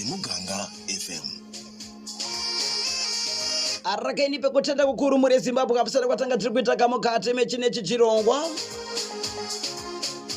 Muganga FM. arakaini pekutenda kukuru muri zimbabwe kapusana kwatanga tiri kuita kamukati mechinechi chirongwa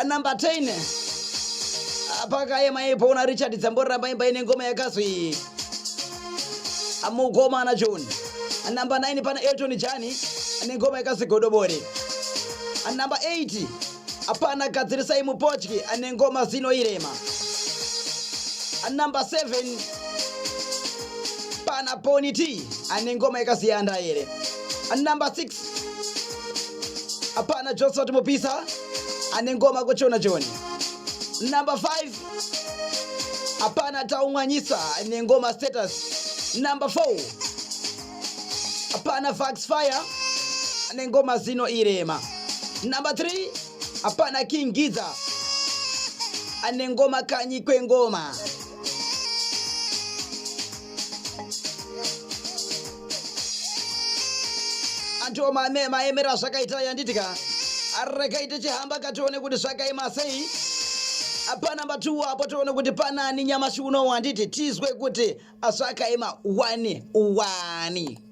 anumber 10 apakayema ipo una richard dzamboramba imba ine ngoma yakazwi amukoma ana john anumber 9 pana elton jani ane ngoma yakazwi godobori anumber 8 apana gadzirisai mupotyi ane ngoma zino irema anumber 7 pana poni t ane ngoma yakaziyanda here anumber 6 Hapana Johnson Mupisa ane ngoma kuchona choni. Number 5 hapana Taumwanyisa ane ngoma status. Number 4 hapana Vax Fire ane ngoma zino irema. Number 3 hapana King Giza ane ngoma kanyi kwengoma. andiwo maemero azvakaita yanditi ka regai tichihamba ka tione kuti zvakaima sei apa namba 2 apo tione kuti panani nyamashi unowu handiti tizwe kuti zvakaima wani wani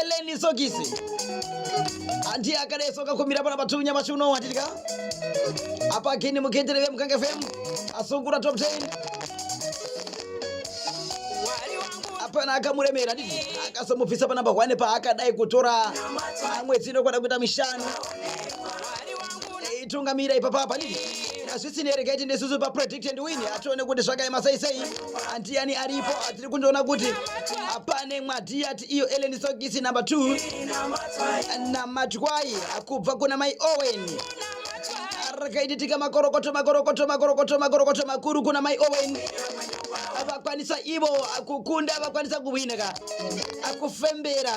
eleni sokisi anti akadai soka kumira pana batu nyamashi unowu hatitika apa kini muketere vemukanga fm asungura top 10 apana akamuremera dii akasomupfisa panamba hwane paakadai kutora amwe dzino kwada kuita mishanu Eh, tungamira ipa papa nini hazvisi nereketi nesusu papredict and win hatione kuti zvakaema sei sei andiyani aripo atiri kundiona kuti apane mwadhiyati iyo eleni sokisi number 2 namatwai akubva kuna mai owen rakaiditika makorokoto makorokoto makorokoto makorokoto makuru kuna mai owen vakwanisa ivo kukunda vakwanisa kuhwina ka akufembera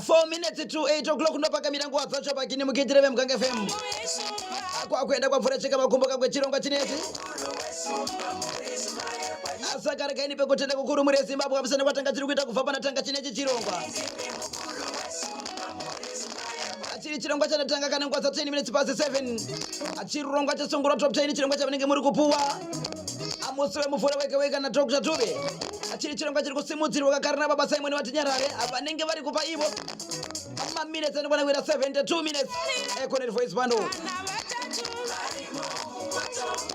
4 minutes to 8 o'clock ndopakamira nguva dzacho pakini mukiitire vemuganga fm kwakuenda kwamvura cheka makumbo kakwe chirongwa chineti asaka rekaini pekutenda kukuru muri yezimbabwe amusana kwatanga tiri kuita kubva pana tanga chinechi chirongwa chiri chirongwa chanatanga kana nguva dza 10 minutes pasi 7 chirongwa chasungura top 10 chirongwa chavanenge muri kupuwa amusi wemuvhuro wega wega nadr tube chiri chirongwa chiri kusimudzirwa kakare nababa simoni vatinyarare vanenge vari kupa ivo maminutes anokwana kuita 72 minutes econet voice bando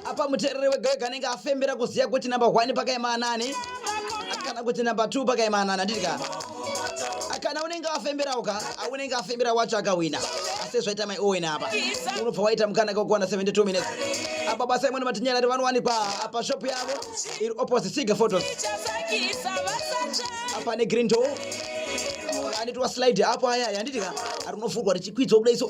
apa muteereri wega wega anenge afembera kuziva kuti namba 1 pakaema anani kana kuti namba 2 pakaema anani anditika kana unenge wafemberawo ka unenge afembera wacho akahwina asi zvaita mai owen apa unobva waita mukanaka wekuwana 72 minutes apa basa imweni matinyarari vanowanikwa apa shop yavo iri opposite siga photos apa negreen door anitwa slide apo aya yanditi ka rinovhurwa richikwidzwa kudai so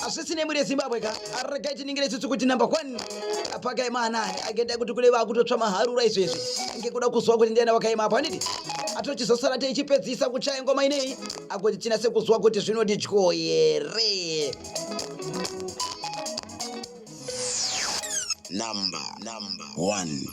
hazvisi nemhuri yezimbabwe ka regai tiningire isusu kuti number one apakaima anani agenda kuti kule vakutotsva maharura izvezvi ngekuda kuziva kuti ndiana wakaima apo anidi atochizosara teichipedzisa kuchaya ngoma inei akuti tinase kuziva kuti zvinodidyo here number number one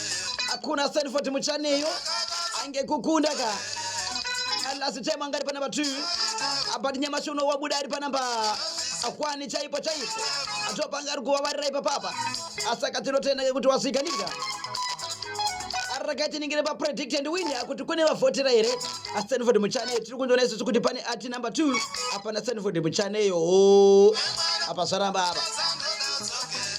hakuna Stanford Muchaneyo angekukunda ka last time angari panamba 2 but nyamashi uno wabuda ari panamba akwani chaipo chaipo atopanga ari kuvavarira ipapapa asi akatinotenda kekuti wasvikanika rakaiti ningire papredict and win akuti kune vavhotera here astanford muchaneyo tiri kundiona isusu kuti pane ati number 2 apana stanford muchaneyo apa zvaramba apa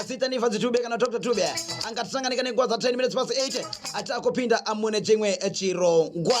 asita nifa dzitube kana dr tube angatisanganika nenguva za 10 minutes pasi 8 ati akupinda amune chimwe chirongwa